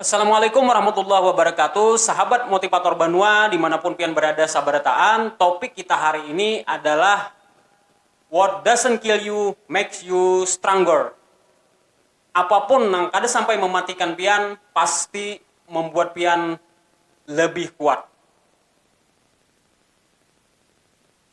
Assalamualaikum warahmatullahi wabarakatuh Sahabat Motivator Banua dimanapun pian berada sabarataan topik kita hari ini adalah What doesn't kill you makes you stronger Apapun nang kada sampai mematikan pian pasti membuat pian lebih kuat.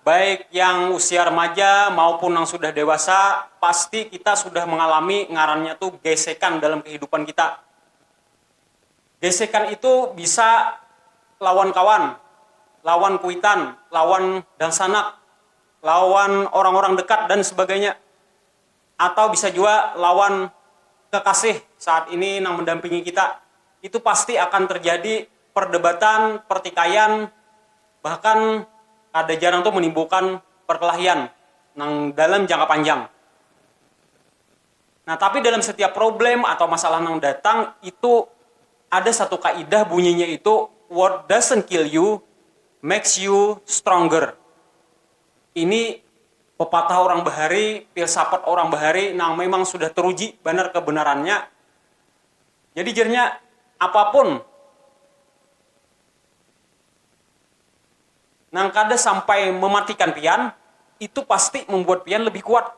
Baik yang usia remaja maupun nang sudah dewasa, pasti kita sudah mengalami ngarannya tu gesekan dalam kehidupan kita. Gesekan itu bisa lawan kawan, lawan kuitan, lawan dangsanak, lawan orang-orang dekat dan sebagainya. Atau bisa jua lawan kekasih saat ini nang mendampingi kita. Itu pasti akan terjadi perdebatan, pertikaian, bahkan kada jarang tu menimbulkan perkelahian nang dalam jangka panjang. Nah, tapi dalam setiap problem atau masalah nang datang itu ada satu kaidah bunyinya itu, what doesn't kill you makes you stronger. Ini pepatah orang bahari, filsafat orang bahari nang memang sudah teruji banar kebenarannya. Jadi jarnya apapun nang kada sampai mematikan pian itu pasti membuat pian lebih kuat.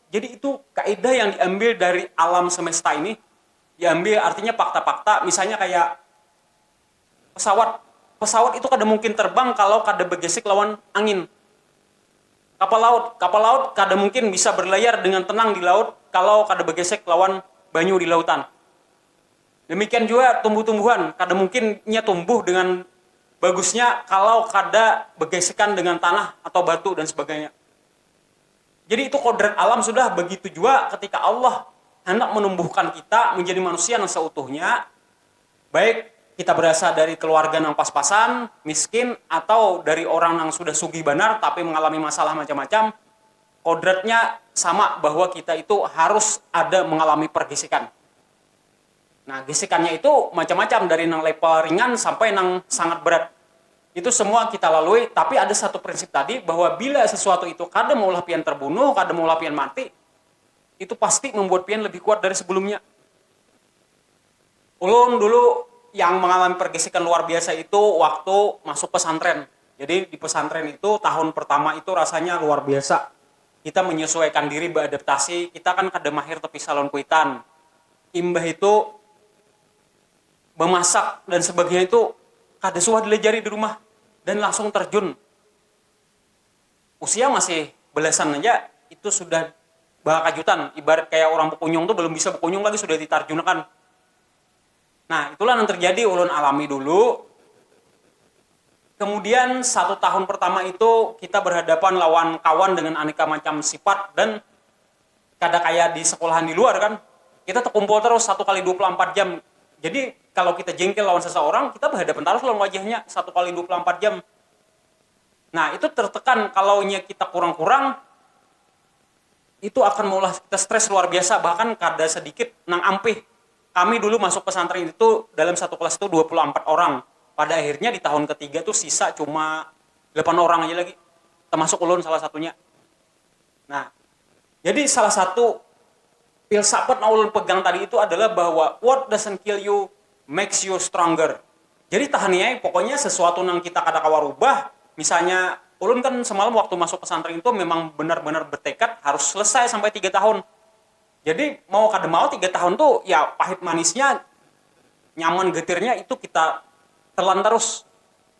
Jadi itu kaedah yang diambil dari alam semesta ini, diambil artinya fakta-fakta misalnya kayak. Pesawat, pesawat itu kada mungkin terbang kalau kada begesek lawan angin. Kapal laut, kapal laut kada mungkin bisa berlayar dengan tenang di laut kalau kada begesek lawan banyu di lautan. Demikian jua tumbuh-tumbuhan, kada mungkin inya tumbuh dengan bagusnya kalau kada begesekan dengan tanah atau batu dan sebagainya. Jadi itu kodrat alam sudah, begitu jua ketika Allah handak menumbuhkan kita menjadi manusia nang seutuhnya, Baik kita berasa dari keluarga nang pas-pasan, miskin, atau dari orang nang sudah sugih banar tapi mengalami masalah macam-macam, kodratnya sama bahwa kita itu harus ada mengalami pergisikan. Nah, gisikannya itu macam-macam dari nang level ringan sampai nang sangat berat. Itu semua kita lalui, tapi ada satu prinsip tadi bahwa bila sesuatu itu kada maulah pian terbunuh, kada maulah pian mati, itu pasti membuat pian lebih kuat dari sebelumnya. Ulun dulu yang mangalami pergisikan luar biasa itu waktu masuk pesantren, jadi di pesantren itu tahun pertama itu rasanya luar biasa, kita menyesuaikan diri beadaptasi, kita kan kada mahir tepisah lawan kuitan, imbah itu bemasak dan sebagainya itu kada suah dilajari di rumah dan langsung terjun. usia masih belasan haja itu sudah bakajutan ibarat kaya orang bekunyung tu belum bisa bekunyung lagi sudah ditarjunakan nah itulah nang terjadi ulun alami dulu kemudian satu tahun pertama itu kita berhadapan lawan kawan dengan aneka macam sifat dan kada kaya di sekolahan di luar kan kita tekumpul terus satu kali dua puluh ampat jam jadi kalo kita jengkel lawan seseorang kita berhadapan tarus lawan wajahnya satu kali dua puluh ampat jam. Nah, itu tertekan kalaunya kita kurang-kurang itu akan maulah kita stres luar biasa bahkan kada sedikit nang ampih kami dulu masuk pesantren itu dalam satu kelas itu dua puluh ampat orang pada akhirnya di tahun ketiga tu sisa cuma delapan orang aja lagi termasuk ulun salah satunya. Nah, jadi salah satu filsafat yang ulun pegang tadi itu adalah bahwa what doesn't kill you makes you stronger. Jadi tahani ai, pokoknya sesuatu nang kita kada kawa rubah, misalnya ulun kan semalam waktu masuk pesantren itu memang benar-benar bertekad harus selesai sampai tiga tahun. Jadi mau kada mau tiga tahun tu ya pahit manisnya, nyaman getirnya itu kita telan tarus.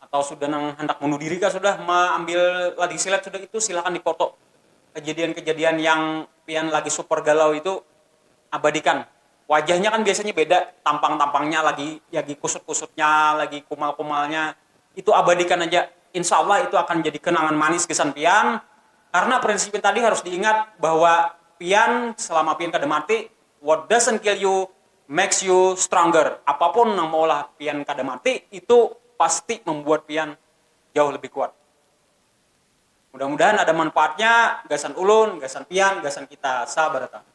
atau sudah nang handak bunuh diri kah sudah maambil lading silet sudah itu silakan di foto kejadian-kejadian yang pian lagi super galau itu abadikan wajahnya kan biasanya beda tampang-tampangnya lagi lagi kusut-kusutnya lagi kumal-kumalnya itu abadikan haja insya Allah itu akan jadi kenangan manis gasan pian karna prinsipnya tadi harus diingat bahwa pian selama pian kada mati what doesn't kill you makes you stronger, apapun nang maulah pian kada mati itu pasti mambuat pian jauh lebih kuat. Mudah mudahan ada manfaatnya gasan ulun, gasan pian, gasan kita sabarataan.